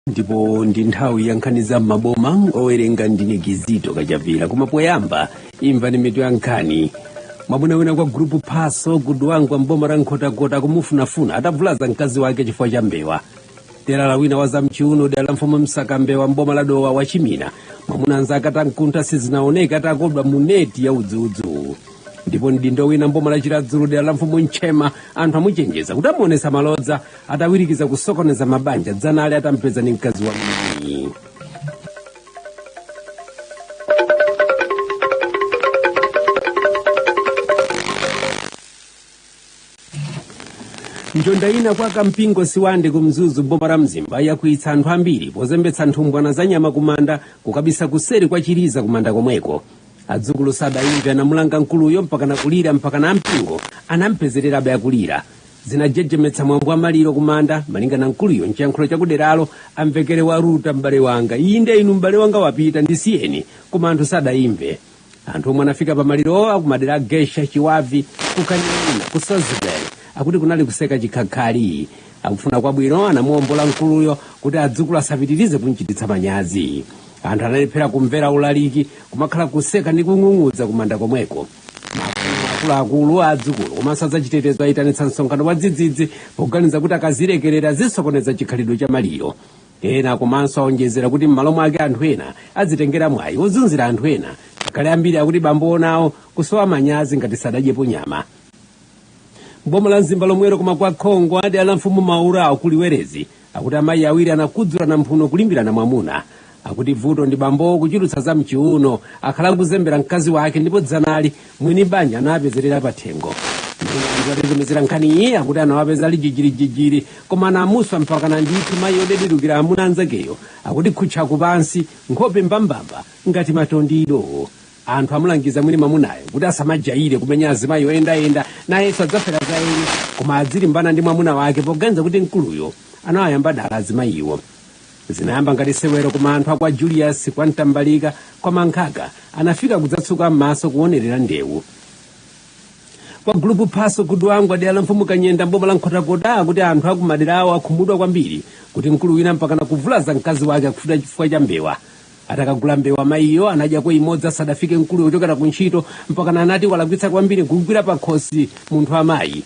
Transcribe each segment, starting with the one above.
ndipo ndi nthawi ya nkhani za m'maboma owerenga ndine kizito kachapira koma poyamba imvani mitu ya nkhani mwamuna wina kwa gulupu phaso ku dwangwa mboma la nkhotakota kumufunafuna atavulaza mkazi wake chifukwa cha mbewa telala wina wa zamchiuno dera la mfumu msakambewa mboma la dowa wachimina mwamuna anzake atamkuntha sizinaoneka atakodwa mu neti ya udzudzu ndipo mdindo wina mboma la chiradzulu dera la mfumu ntchema anthu amuchenjeza kuti amuonetsa malodza atawirikiza kusokoneza mabanja dzanali atampeza ndi mkazi wa mwini njonda ina kwa kampingo sibande ku mzuzu boma la mzimba yakwiyitsa anthu ambiri pozembetsa nthumbwana za nyama kumanda kukabisa kuseri kwa chiliza kumanda komweko adzukulu sadayimve anamulanga mkuluyo mpakana kulira mpakana ampingo anampezererabe akulira zinajejemetsa mwambo wa maliro kumanda malinga na mkuluyo mchiyankhulo chakuderalo amvekere waluta m'bale wanga iyi nde inu m'bale wanga wapita ndisiyeni koma anthu sadayimve anthu omwe anafika pa malirowo akumadera a geisha chiwavi ku kaning'ina ku sozibele akuti kunali kuseka chikhakhali akufuna kwabwino anamuombola mkuluyo kuti adzukulu asapitirize kumchititsa manyazi anthu analephera kumvera ulaliki kumakhala kuseka ndi kung'ung'udza kumanda komweko akuluakulu adzukulu komanso azachitetezo ayitanitsa msonkhano wa dzidzidzi poganiza kuti akazilekerera zisokoneza chikhalidwe cha maliro ena komanso aonjezera kuti m'malo mwake anthu ena adzitengera mwayi wozunzira anthu ena ngakhale ambiri akuti bambowo nawo kusowa manyazi ngati sadadyepo nyama mboma la mzimba lomwero koma kwa khongo dera la mfumu mabulabo ku luwerezi akuti amayi awiri anakudzulana mphuno kulimbirana mwamuna akuti vuto ndi bambowo kuchulutsa za mchiuno akhala akuzembera mkazi wake ndipo dzanali mwini banja anawapezerera pathengo atitumizira nkhaniyi akuti anawapeza ali jijirijijiri koma anamuswa mpakana ndithu mayi odededukira amuna anzakeyo akuti khutchaku pansi nkhope mbambamba ngati matondido anthu amulangiza mwini mwamunayo kuti asamajayire kumenya azimayi oyendayenda nayenso adzafera za eni koma adzilimbana ndi mwamuna wake poganiza kuti mkuluyo anawayamba dala azimayiwo zinayamba ngati sewero koma anthu akwa julius kwa mtambalika kwa mankhaka anafika kudzatsuka m'maso kuonerera ndewu kwa gulupu phaso ku dwangwa dera la mfumu kanyenda mboma la nkhotakota kuti anthu akumaderawo akhumudwa kwambiri kuti mkulu wina mpakana kuvulaza mkazi wake akufuta chifukwa cha mbewa atakagula mbewa mayiyo anadyako imodzi asadafike mkuluyo kuchokera ku ntchito mpakana anati walakwitsa kwambiri kugwira pakhosi munthu wamayi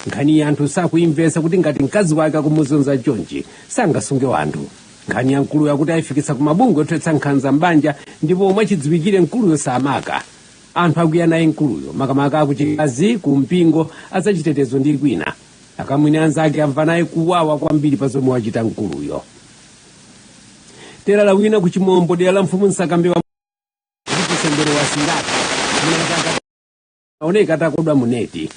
nkhaniyi anthu sakuyimvetsa kuti ngati mkazi wake akumuzunza chonchi sangasunge wanthu nkhani ya mkuluyo akuti ayifikitsa ku mabungwe othetsa nkhanza mbanja ndipo omwe chidziwikire mkuluyo samaka anthu akwiya naye mkuluyo makamaka akuchikazi ku mpingo azachitetezo ndi kwina akamwini anzake amva naye kuwawa kwambiri pa zomwe wachita mkuluyo terala wina ku chimombo dera la mfumu msakambewa chisembere wa singati aoneka atakodwa muneti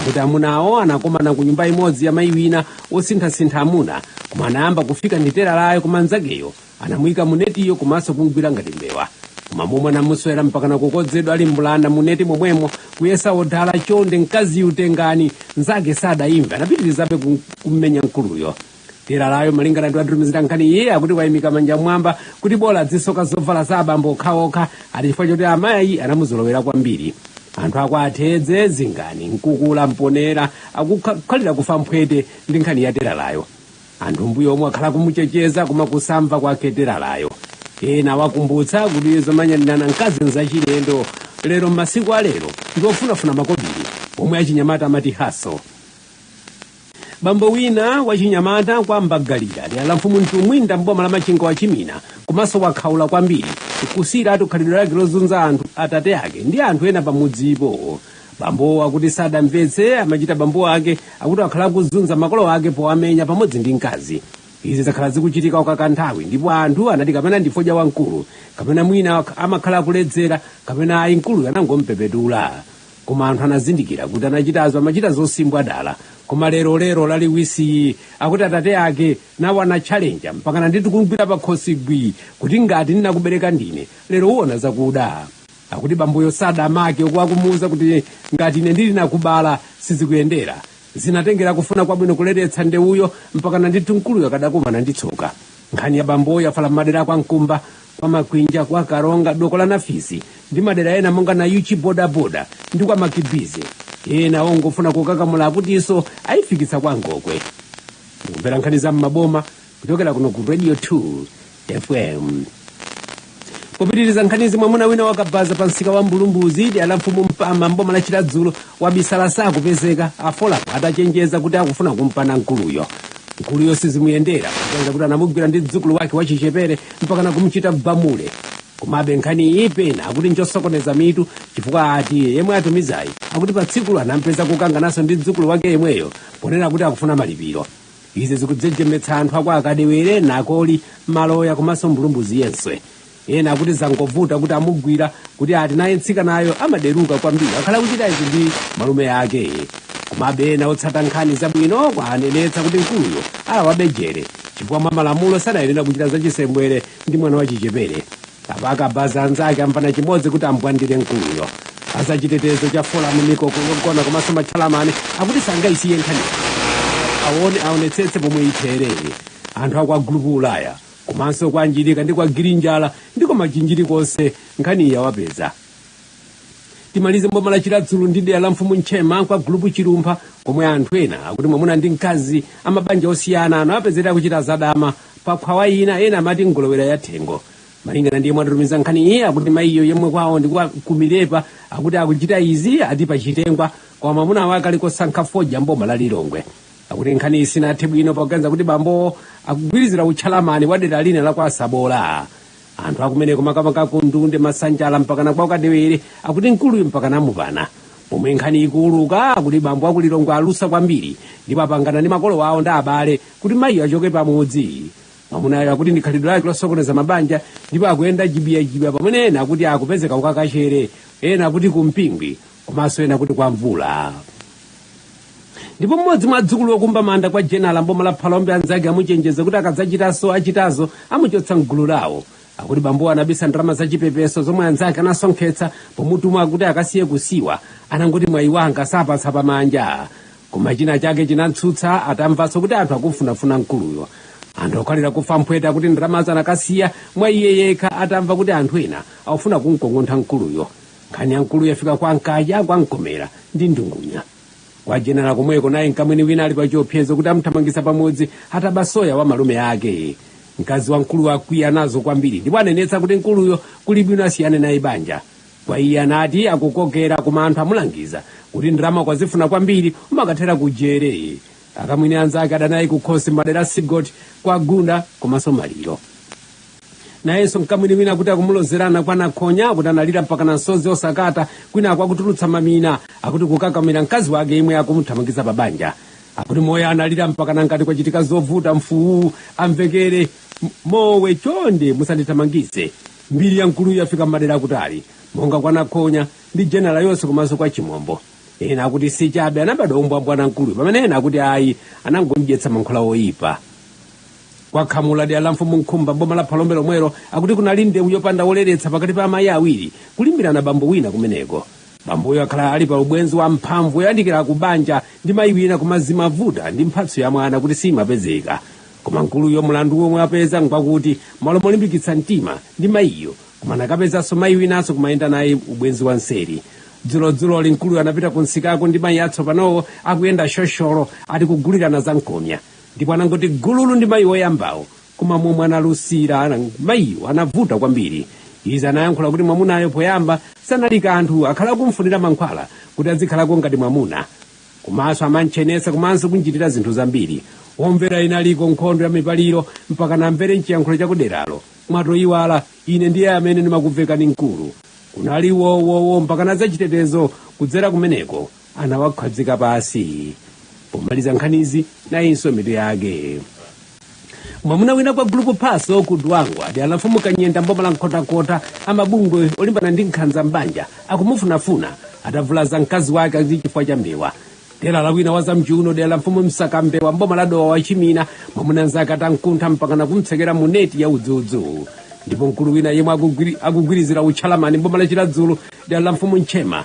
kuti amunawo anakomana ku nyumba imodzi ya mayi wina wosinthasintha amuna koma anayamba kufika ndi teralayo koma mnzakeyo anamuyika munetiyo komanso kumgwira ngati mbewa koma momwe anamuswera mpakana kukodzedwa ali mbulanda muneti momwemo kuyesa odala chonde mkaziyu tengani mnzake sadayimve anapitirizabe kum- kummenya mkuluyo teralayo malingana ndi watitumizira nkhani iye akuti wayimika manja m'mwamba kuti bola adzisoka zovala za abambo okhaokha ati chifukwa choti amayi anamuzolowera kwambiri anthu akwa tedze zingani mkukula mponela akukhalira kufa n'phwete ndi nkhani ya teralayo anthu mbuyo omwe akhala kumuchenjeza koma kusamva kwake teralayo ena wakumbutsa kuti zomenyanirana mkazi nzachilendo lero m'masiku alero ndiofunafuna makobiri omwe achinyamata amati haso bambo wina wachinyamata kwa mbagalira dera la mfumu mtumbwinda mboma la machinga wachimina komanso wakhaula kwambiri kusiyiratu khalidwe lake lozunza anthu atate ake ndi anthu ena pamudzipo bambowo akuti sadamvetse amachita bambo ake akuti akhala akuzunza makolo ake powamenya pamodzi ndi mkazi izi zakhala zikuchitika kwakanthawi ndipo anthu anati kapena ndi fodya wamkulu kapena mwina amakhala akuledzera kapena ayi mkuluyo anangompepetula koma anthu anazindikira kuti anachitazo amachita zosimbwa dala koma lero lero laliwisiyi akuti atate ake nawo anatchalenja mpakana ndithu kumgwira pakhosi gwi kuti ngati ndinakubereka ndine lero uona zakuda akuti bamboyo sada amake akumuuza kuti ngati ine ndinakubala sizikuyendera zinatengera akufuna kwabwino kuleretsa ndewuyo mpakana ndithu mkuluyo akadakumana ndi tsoka nkhani ya bamboyo yafala m'madera akwa mkumba kwa makwinja kwa kalonga doko la nafisi ndi madera ena monga nayuchi bodaboda ndi kwa makibizi ena ongofuna kukakamula akutinso ayifikitsa kwa ngokwe mukumvera nkhani za m'maboma kuchokera kuno ku radio 2 fm popitiriza nkhanizi mwamuna wina wakabaza pa msika wa mbulumbuzi dera la mfumu mpama mboma la chiradzulu wabisala sakupezeka afolapo atachenjeza kuti akufuna kumpana mkuluyo mkuluyo sizimuyendera kutenga kuti anamugwira ndi mdzukulu wake wachichepere mpaka nakumchita bamule komabe nkhani iyi pena akuti njosokoneza mitu chifukwa ati yemwe atumizayi akuti pa tsikulo anampeza kukangananso ndi mdzukulu wake yemweyo ponena kuti akufuna malipiro izi zikujejemetsa anthu akwa kadewere nakoli maloya komanso mbulumbuzi yense ena akuti zangovuta kuti amugwira kuti ati naye mtsikanayo amaderuka kwambiri akhala kuchita izi ndi malume ake komabe ena otsata nkhani zabwino anenetsa kuti mkuluyo alawabe jere chifukwa mwa malamulo sanayenera kuchita zachisembwere ndi mwana wachichepere kabaza anzake amvana chimodzi kuti ambwandire mkuluyo azachitetezo cha folamu mikoko yogona komanso matchalamani akuti sangayisiye nkhaniyi aone aonetsetse pomwe itherere anthu akwa gulupu ulaya komanso kwa njirika ndi kwa girinjala ndiko machinjiri konse nkhani yawapeza timalize mboma la chiradzulu ndi dera la mfumu ntchema kwa gulupu chilumpha komwe anthu ena akuti mwamuna ndi mkazi amabanja osiyana anawapezera akuchita zadama pa khwawa ina ena amati ngolowera ya thengo malingana ndi yemwe watitumiza nkhani iyi akuti mayiyo yemwe kwawo ndi kwa kumilepa akuti akuchita izi ati pachitengwa koma mwamuna wake ali kosankha fodya mboma la lilongwe akuti nkhani iyi sinathe bwino pakuganiza kuti bambowo akugwirizira utchalamani wa dera lina la kwa sabola anthu akumeneko makamaka ku ndunde masanjala mpakana kwa kadewere akuti mkuluyu mpaka amupana pomwe nkhani ikuuluka akuti bambo akulilongwe alusa kwambiri ndipo apangana ndi makolo awo ndi abale kuti mayiyo achoke pamudzi mwamunayo akuti ndi khalidwe lake losokoneza mabanja ndipo akuyenda jibiyajibiya pamene ena akuti akupezeka kukakachere ena akuti kumpingwi komanso ena akuti kwa mvula ndipo mmodzi mwa adzukulu okumba manda kwa jenala mboma la phalombe anzake amuchenjeza kuti akadzachitanso achitazo amuchotsa mgulu lawo akuti bambowo anabisa ndalama zachipepeso zomwe anzake anasonkhetsa pomutuma kuti akasiye kusiwa anangoti mwayi wanga sapatsa pamanja koma china chake chinamtsutsa atamvanso kuti anthu akumfunafuna mkuluyo anthu okhalira kufa mphwete akuti ndalamazo anakasiya mwa iye yekha atamva kuti anthu ena akufuna kumkong'ontha mkuluyo nkhani ya mkuluyo yafika kwa nkhaya kwa mkomera ndi ndungunya kwa jenala komweko naye mkamwini wina ali pa chiopsezo kuti amuthamangitsa pamudzi ataba soya wa malume ake mkazi wa mkuluyo wakwiya nazo kwambiri ndipo anenetsa kuti mkuluyo kuli bwino asiyane naye banja kwa iye anati akukokera koma anthu amulangiza kuti ndalama ukazifuna kwambiri umakathera kujere akamwini anzake adanayo kukhosi mmadera sigoti kwa gunda komanso maliro nayenso mkamwini wina akuti akumulozerana kwa nakhonya akuti analira mpakana misozi osakata kwinaku akutulutsa mamina akuti kukakamira mkazi wake yemwe akumuthamangiza pa banja akuti mwayo analira mpakana ngati kwachitika zovuta mfuwu amvekere mowe chonde musandithamangize mbiri ya mkuluyu yafika mmadera akutali monga kwa nakhonya ndi jenala yonse komanso kwa chimombo ena akuti si chabe anabadwa umbwambwana mkuluyu pamene ena akuti ayi anangomdyetsa mankhwala oyipa kwa khamula dera la mfumu nkhumba mboma la phalombe lomwelo akuti kunali ndewu yopanda woleretsa pakati pa amayi awiri kulimbirana bambo wina kumeneko bamboyo akhala ali pa ubwenzi wa mphamvu yoyandikira ku banja ndi mayi wina koma zimavuta ndi mphatso ya mwana kuti simapezeka koma mkuluyo mlandu womwe apeza ngwakuti malo molimbikitsa mtima ndi mayiyo koma anakapezanso mayi winanso kumayenda naye ubwenzi wa mseri dzulodzuloli mkuluyo anapita ku msikako ndi mayi atsopanowo akuyenda shosholo ati kugulirana za mkomya ndipo anangoti gululu ndi mayi woyambawo koma momwe analusira mayiwo anavuta kwambiri izi anayankhula kuti mwamunayo poyamba sanali kanthu akhala akumfunira mankhwala kuti azikhalako ngati mwamuna komanso amamtchenetsa komanso kumchitira zinthu zambiri omvera inaliko nkhondo ya mipaliro mpaka namvere mchiyankhulo chakuderalo mwatoyiwala ine ndiye amene ndimakuvekani mkulu kunali wowowo mpakana azachitetezo kudzera kumeneko anawakhazika pansi pomaliza nkhanizi nayinso mitu yake mwamuna wina kwa gulupu paso ku dwangwa dera la mfumu kanyenda mboma la nkhotakota amabungwe olimbana ndi nkhanza mbanja akumufunafuna atavulaza mkazi wake ati chifukwa cha mbewa telala wina wa zamchiuno dera la mfumu msakambewa mboma la dowa wachimina mwamuna mnzake atamkuntha mpakana kumtsekera mu neti ya udzudzu ndipo mkulu wina yemwe akugwirizira utcheyamani mboma la chiradzulu dera la mfumu ntchema